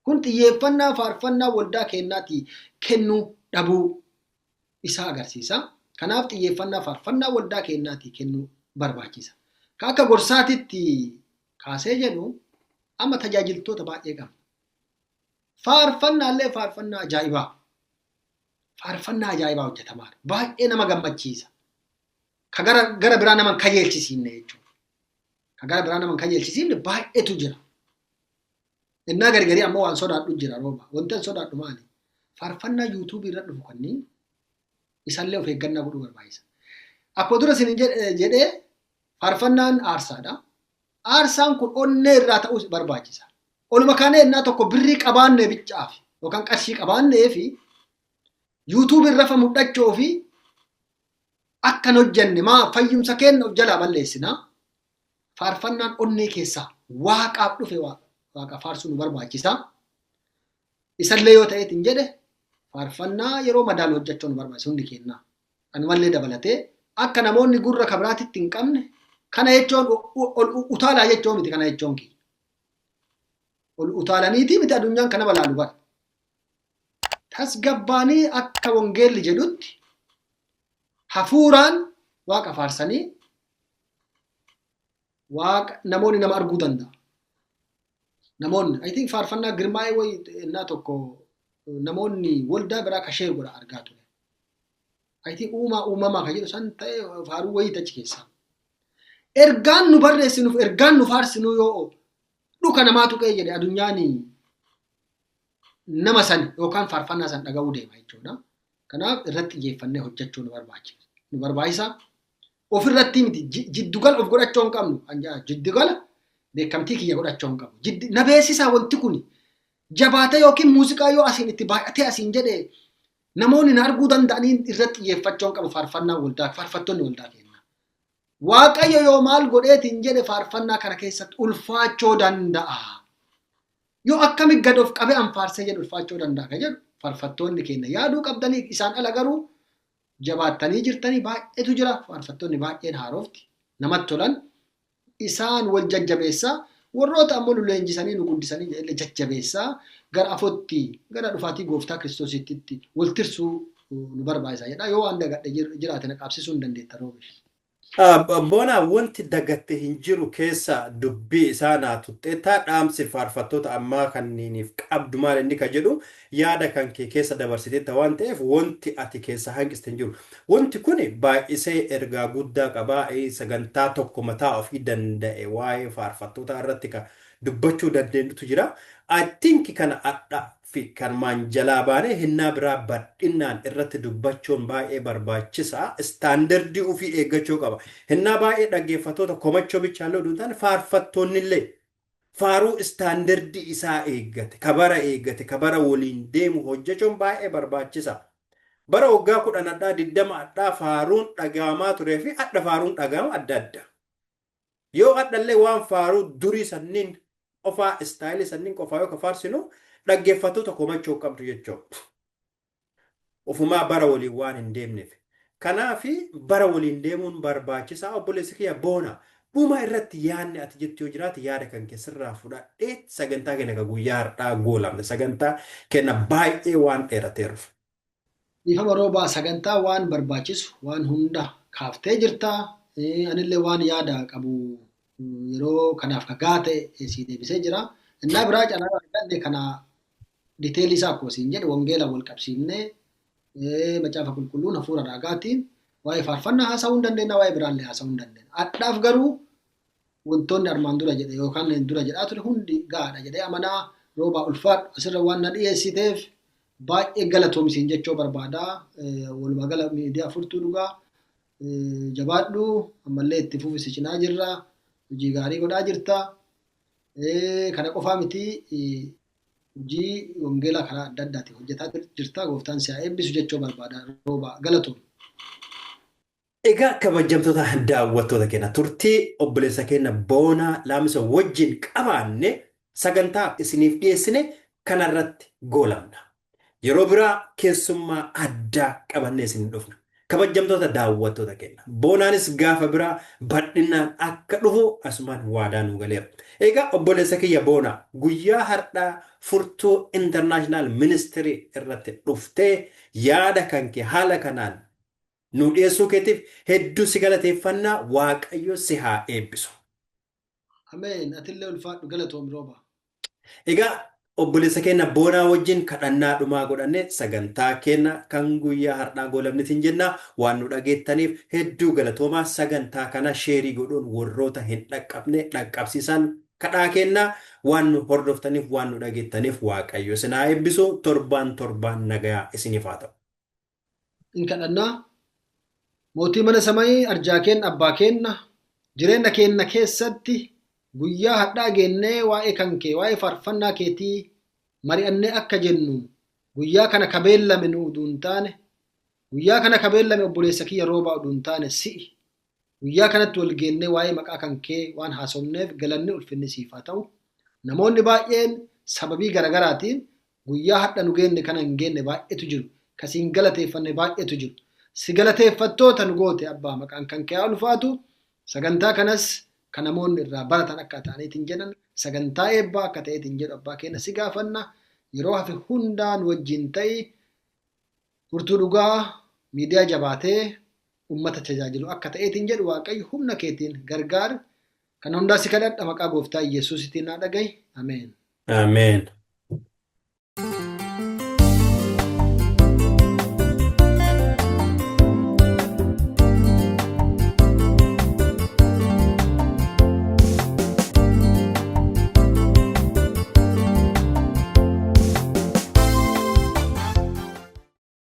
Kun xiyyeeffannaa faarfannaa waldaa keenyaati kennuu dhabuu isaa agarsiisa. Kanaaf xiyyeeffannaa faarfannaa waldaa keenyaati kennuu barbaachisa. Ka akka gorsaatitti kaasee jedhu amma tajaajiltoota baay'ee qabna. Faarfannaallee faarfannaa ajaa'ibaa. Faarfannaa ajaa'ibaa hojjetamaa baay'ee nama gammachiisa. ka gara gara biraa nama hin kajeelchisiifne jechuudha. Ka gara biraa nama hin kajeelchisiifne baay'eetu jira. Innaa gargarii ammoo waan sodaadhu jira rooba. Wanti an sodaadhu maali? Faarfannaa yuutuubii irra dhufu kanneen isallee of eeggannaa godhuu barbaachisa. Akkuma dura isin jedhee faarfannaan aarsaadha. Aarsaan kun onnee irraa ta'uu barbaachisa. Oluma kaanee innaa tokko birrii qabaannee bichaaf yookaan qarshii qabaannee fi yuutuubii irra fa mul'achuu fi akka hin hojjenne maa fayyumsa keenya of jalaa balleessina faarfannaan onnee keessaa waaqaaf dhufe waaqa faarsuu nu barbaachisa isallee yoo ta'eet hin jedhe faarfannaa yeroo madaan hojjechuu nu barbaachisa hundi keenya kanumallee dabalatee akka namoonni gurra kabiraatitti hin qabne kana jechuun ol utaalaa jechuu miti kana jechuun kiyya ol utaalaniitii miti addunyaan kana balaalu bara tasgabbaanii akka wangeelli jedhutti hafuuraan waaqa faarsanii waaqa namoonni nama arguu danda'a. Namoonni I think faarfannaa girmaa'ee wayi innaa tokko namoonni waldaa biraa ka sheer godha argaa ture. I think uumaa uumamaa ka jedhu san ta'e faaruu wayii achi keessaa. Ergaan nu barreessinuuf ergaan nu faarsinuu yoo dhuka namaa tuqee jedhe adunyaanii nama san yookaan faarfannaa san dhaga'uu deema jechuudha. Kanaaf irratti xiyyeeffannee hojjechuu nu barbaachisa. Nu barbaachisa. Ofirratti miti jiddugala of godhachuu hin qabnu. Jiddugala beekamtii kiyya godhachuu hin qabu. Na beeksisaa wanti kun jabaatee yookiin muuziqaa yoo asiin itti baay'atee asiin jedhe namoonni na arguu danda'anii irratti xiyyeeffachuu hin qabu faarfannaa waldaa faarfattoonni waldaa keenya. Waaqayyo yoo maal godheetiin jedhe faarfannaa kana keessatti ulfaachuu danda'a. Yoo akkami gad of qabe an faarsee jedhu ulfaachoo danda'a ka jedhu farfattoonni keenya yaaduu qabdanii isaan ala garuu jabaattanii jirtanii baay'eetu jira faarfattoonni baay'een haarofti namatti tolan isaan wal jajjabeessaa warroota ammoo nu leenjisanii nu guddisanii jedhee jajjabeessaa gara afootti gara dhufaatii gooftaa kiristoositti wal tirsuu nu barbaachisa jedha yoo waan dagadhe jiraate na qaabsisuu hin dandeetta roobesh. Boonaa wanti dagatte hin jiru keessaa dubbii isaa naa tuxxeettaa dhaamsi faarfattoota ammaa kanniiniif qabdu maal inni ka jedhu yaada kan kee keessa dabarsiteetta waan ta'eef wanti ati keessaa hanqiste hin jiru. Wanti kuni baay'isee ergaa guddaa qaba sagantaa tokko mataa ofii danda'e waa'ee faarfattootaa irratti ka dubbachuu dandeenyutu jira. I think kana adha fi kanumaan jalaa baanee hennaa biraa badhinnaan irratti dubbachuun baay'ee barbaachisaa standardii ufii eeggachoo qaba. Hennaa baay'ee dhaggeeffattoota komachoo bichaallee oduu hin taane faarfattoonnillee faaruu standardii isaa eeggate ka bara eeggate ka bara waliin deemu hojjechuun baay'ee barbaachisa. Bara waggaa kudhan adhaa diddama adhaa faaruun dhagaamaa turee fi adha faaruun dhagaama adda adda. Yoo hadhallee waan faaruu durii sanniin qofaa istaayilii sanniin qofaa yoo ka faarsinu dhaggeeffattoota komachuu hin qabdu jechoo. Ufumaa bara waliin waan hin deemneef. Kanaafi bara waliin deemuun barbaachisaa obboleessi kiyya boona. Dhuma irratti yaadni ati jettu yoo jiraate yaada kan kee sirraa fudhadhee sagantaa keenya ka guyyaa har'aa goolabna. Sagantaa keenya baay'ee waan dheerateeruuf. Dhiifama roobaa sagantaa waan barbaachisu waan hunda kaaftee jirta. Eh, Anillee waan yaada qabu mm, yeroo kanaaf ka gaa ta'e eh, sii deebisee jira. Innaa biraa carraa arganne kana diteelii isaa akkuma siin jedhe wangeelaan wal qabsiifnee eh, macaafa qulqulluun hafuura raagaatiin waa'ee faarfannaa haasa'uu hin dandeenya waa'ee biraallee haasa'uu hin dandeenya. Adhaaf garuu wantoonni armaan dura jedhe yookaan dura jedhaa ture hundi gaadha jedhee amanaa roobaa ulfaadhu asirra waan na dhiyeessiteef baay'ee galatoomi siin jechuu barbaada walumaa gala miidiyaa furtuu dhugaa jabaadhu ammallee itti fufi si cinaa jirra hojii gaarii godhaa jirta kana qofaa miti hojii wangeelaa karaa adda addaatiin hojjetaa jirta gooftaan si haa eebbisu jechuu barbaada roobaa galatoomi. Egaa kabajamtoota daawwattoota keenya turtii obboleessa keenya Boonaa Laamisa wajjin qabaanne sagantaa isiniif dhiyeessine kanarratti goolabna. Yeroo biraa keessummaa addaa qabannee isin dhufna. Kabajamtoota daawwattoota keenya Boonaanis gaafa biraa bal'inaan akka dhufu asumaan waadaa nuu galeera. Egaa obboleessa kiyya Boonaa guyyaa har'aa furtuu International Ministry irratti dhuftee yaada kankee haala kanaan nuu dhiyeessuu keetiif hedduu si galateeffanna Waaqayyo si haa eebbisu. Ameen atillee ulfaadhu galatoomi Roobaa. Egaa obboleessa keenna Boonaa wajjin kadhannaa dhumaa godhanne sagantaa keenna kan guyyaa hardhaa goolabne isin jenna. Waan nu dhageettaniif hedduu galatoomaa sagantaa kana sheerii godhuun worroota hin dhaqqabne dhaqqabsiisaan kadhaa keenna. Waan nu hordoftaniif waan nu dhageettaniif Waaqayyo isin haa eebbisu. Torbaan torbaan nagayaa isiniif haa ta'u. in kadhannaa mootii mana samayii arjaa keenna abbaa keenna jireenya keenna keessatti guyyaa hadhaa geennee waa'ee kan kee waa'ee faarfannaa keetii mari'annee akka jennu guyyaa kana kabeellame nu uduun taane guyyaa kana kabeellame obboleessa kiyya roobaa uduun taane si'i Guyyaa kanatti wal geennee waa'ee maqaa kan kee waan haasofneef galanni ulfinni siif haa ta'u. Namoonni baay'een sababii garagaraatiin guyyaa hadha nu geenne kana hin geenne baay'eetu jiru. Ka si hin galateeffanne baay'eetu jiru. Si galateeffattoota nu goote abbaa maqaan kan kee haa ulfaatu. Sagantaa kanas ka namoonni irraa baratan akka ta'aniitiin jedhan sagantaa eebbaa akka ta'eetiin jedhu abbaa keenya si gaafanna. Yeroo hafe hundaa nu wajjin ta'i. Furtuu dhugaa miidiyaa jabaatee ummata tajaajilu akka ta'eetiin jedhu Waaqayyo humna keetiin gargaari. Kana hundaa si kadhadha maqaa gooftaa Iyyasuusitiin naa dhagahi. Ameen. Ameen.